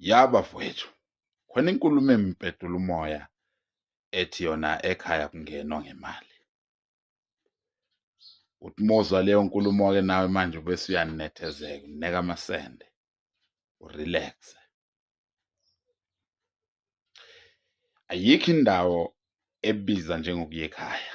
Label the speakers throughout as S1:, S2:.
S1: ya bafowethu khona inkulumo empedula umoya ethi yona ekhaya kungenwa ngemali uthi mozwa leyo nkulumo-ke nawe manje ubese uyanethezeka uneka amasende urelaxe ayikho indawo ebiza njengokuya ekhaya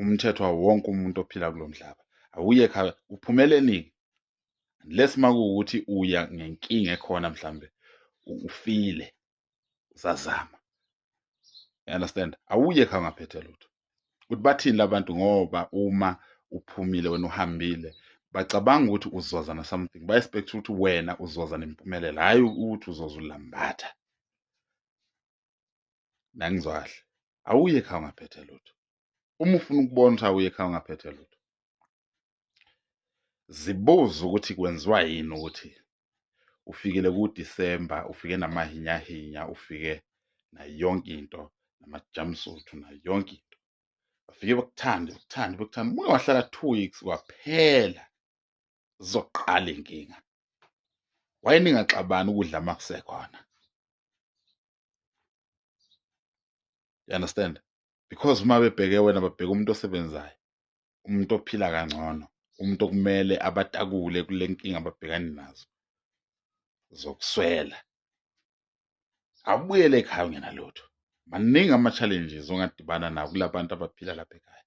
S1: umthetho wawo wonke umuntu ophila kulo mhlaba awuye khaya uphumele nini unless makuwukuthi uya ngenkinga ekhona mhlambe ufile usazama you understand awuye khaya ngaphethe lutho ukuthi bathini labantu ngoba uma uphumile wena uhambile bacabanga ukuthi uzoza na something ba expect ukuthi wena uzoza nempumelelo hayi ukuthi uzoza ulambatha nangizwa kahle awuye ekhaya ungaphethe lutho uma ufuna ukubona ukuthi awuye ekhaya ungaphethe lutho zibuze ukuthi kwenziwa yini ukuthi ufikile kudisemba ufike namahinyahinya ufike nayo yonke into namajamsuthu nayo yonke into bafike bakuthande bakuthande bakuthande ubuye wahlala two weeks kwaphela zizoqala inkinga why ningaxabani ukudla uma kusekhona you understand because uma bebheke wena babheke umuntu osebenzayo umuntu ophila kangcono umuntu okumele abatakule kule nkinga ababhekani nazo zokuswela abuyele ekhaya ungenalutho maningi ama-challenges ongadibana nawo kula bantu abaphila lapha ekhaya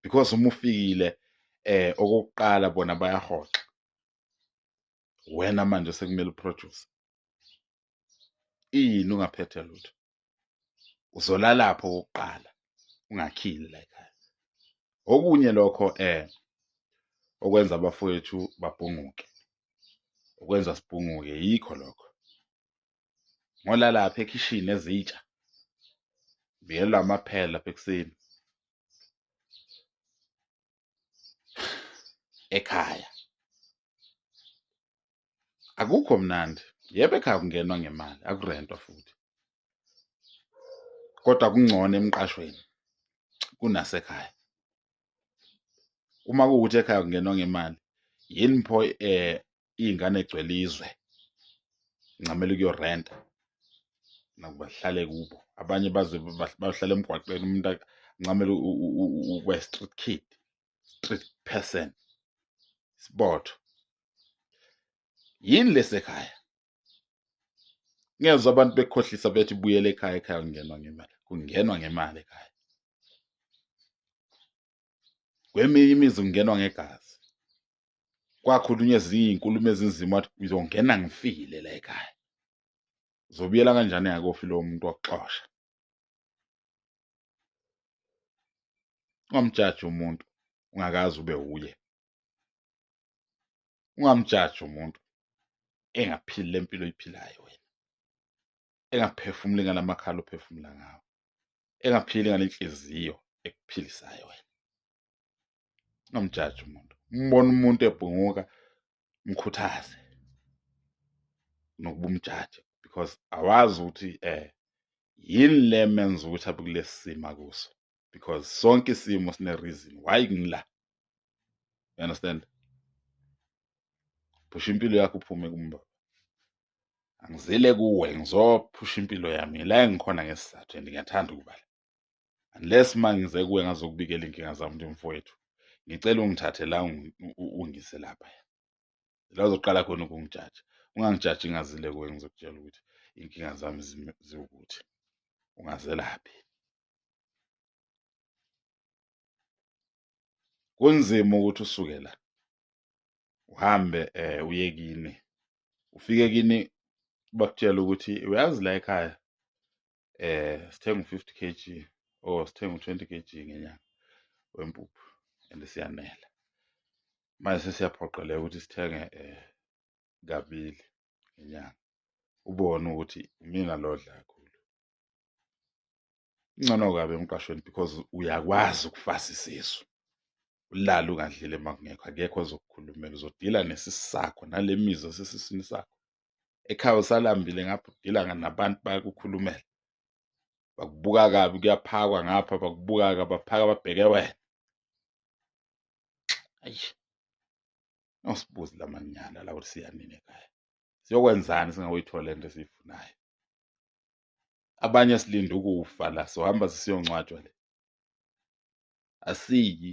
S1: because uma ufikile eh okokuqala bona bayahoxa wena manje sekumele uproduce ini ungaphethe lutho uzolalapho okokuqala ungakhili la ekhaya okunye lokho eh okwenza abafowethu babhunguke okwenza sibhunguke yikho lokho ngolalapha ekhishini ezitsha biyelwa amaphela lapha ekuseni ekhaya akukho mnandi yebo ekhaya kungenwa ngemali akurentwa futhi kodwa kungcono emqashweni kunasekhaya uma kuwukuthi ekhaya kungenwa ngemali yini pho eh iy'ngane egcwele izwe ngincamela ukuyorenta nakuba hlale kubo abanye baze bahlale emgwaqeni umuntu ancamele ukuba street kid street person isibotho yini lesekhaya ngezwa abantu bekhohlisa bethi buyele ekhaya ekhaya kungenwa ngemali kungenwa ngemali ekhaya kweminye imizi kungenwa ngegazi kwakhulunywa ezinye iy'nkulumo ezinzima wathi ngizongena ngifile la ekhaya zobuyela kanjani yakofi lowo muntu wakuxosha ungamjaji umuntu ungakazi ube wuye ungamjaji umuntu engaphili le mpilo oyiphilayo wena engaphefumuli ngala makhala ophefumula ngawo engaphili ngale nhliziyo ekuphilisayo wena ungamjaji umuntu umbona umuntu ebhunguka mkhuthaze nokuba umjaji because awazi ukuthi eh yini le menza ukuthi abe kulesi simo akuso because sonke isimo sine reason why ngila you understand phusha impilo yakho uphume kumba angizile kuwe ngizophusha impilo yami la engikhona ngesizathu and ngiyathanda ukuba la unless uma ngize kuwe ngazokubikela inkinga zami nje mfowethu ngicela ungithathe la ungise lapha la uzoqala khona ukungijaja ungangijaji ngazile kuwe ngizokutshela ukuthi inkinga zami ziwukuthi ungazelaphi kunzima ukuthi usuke la uhambe um uye kini ufike kini bakutshela ukuthi uyazi la ekhaya eh sithenga u-50 kg or sithenga u-20 kg ngenyanga wempuphu and siyanela manje sesiyaphoqeleka ukuthi sithenge eh kabili ngenyanga ubone ukuthi imina lodla kakhulu Ingcono kabi emqashweni because uyakwazi ukufasa isisu. Ulala ungadlile uma kungekho, akekho ozokukhulumela. Uzodila nesisu sakho nale mizwa esesiswini sakho. Ekhaya usalambile ngapha udila nabantu bayakukhulumela. Bakubuka kabi kuyaphakwa ngapha bakubuka kabi baphaka babheke wena. Ayi. Awusibuzi lamanyala lawo siyanini ekhaya. Siyokwenzani singakuyithola lento esiyifunayo? abanye silinde ukufa la sohamba sisiyongcwatshwa le asiyi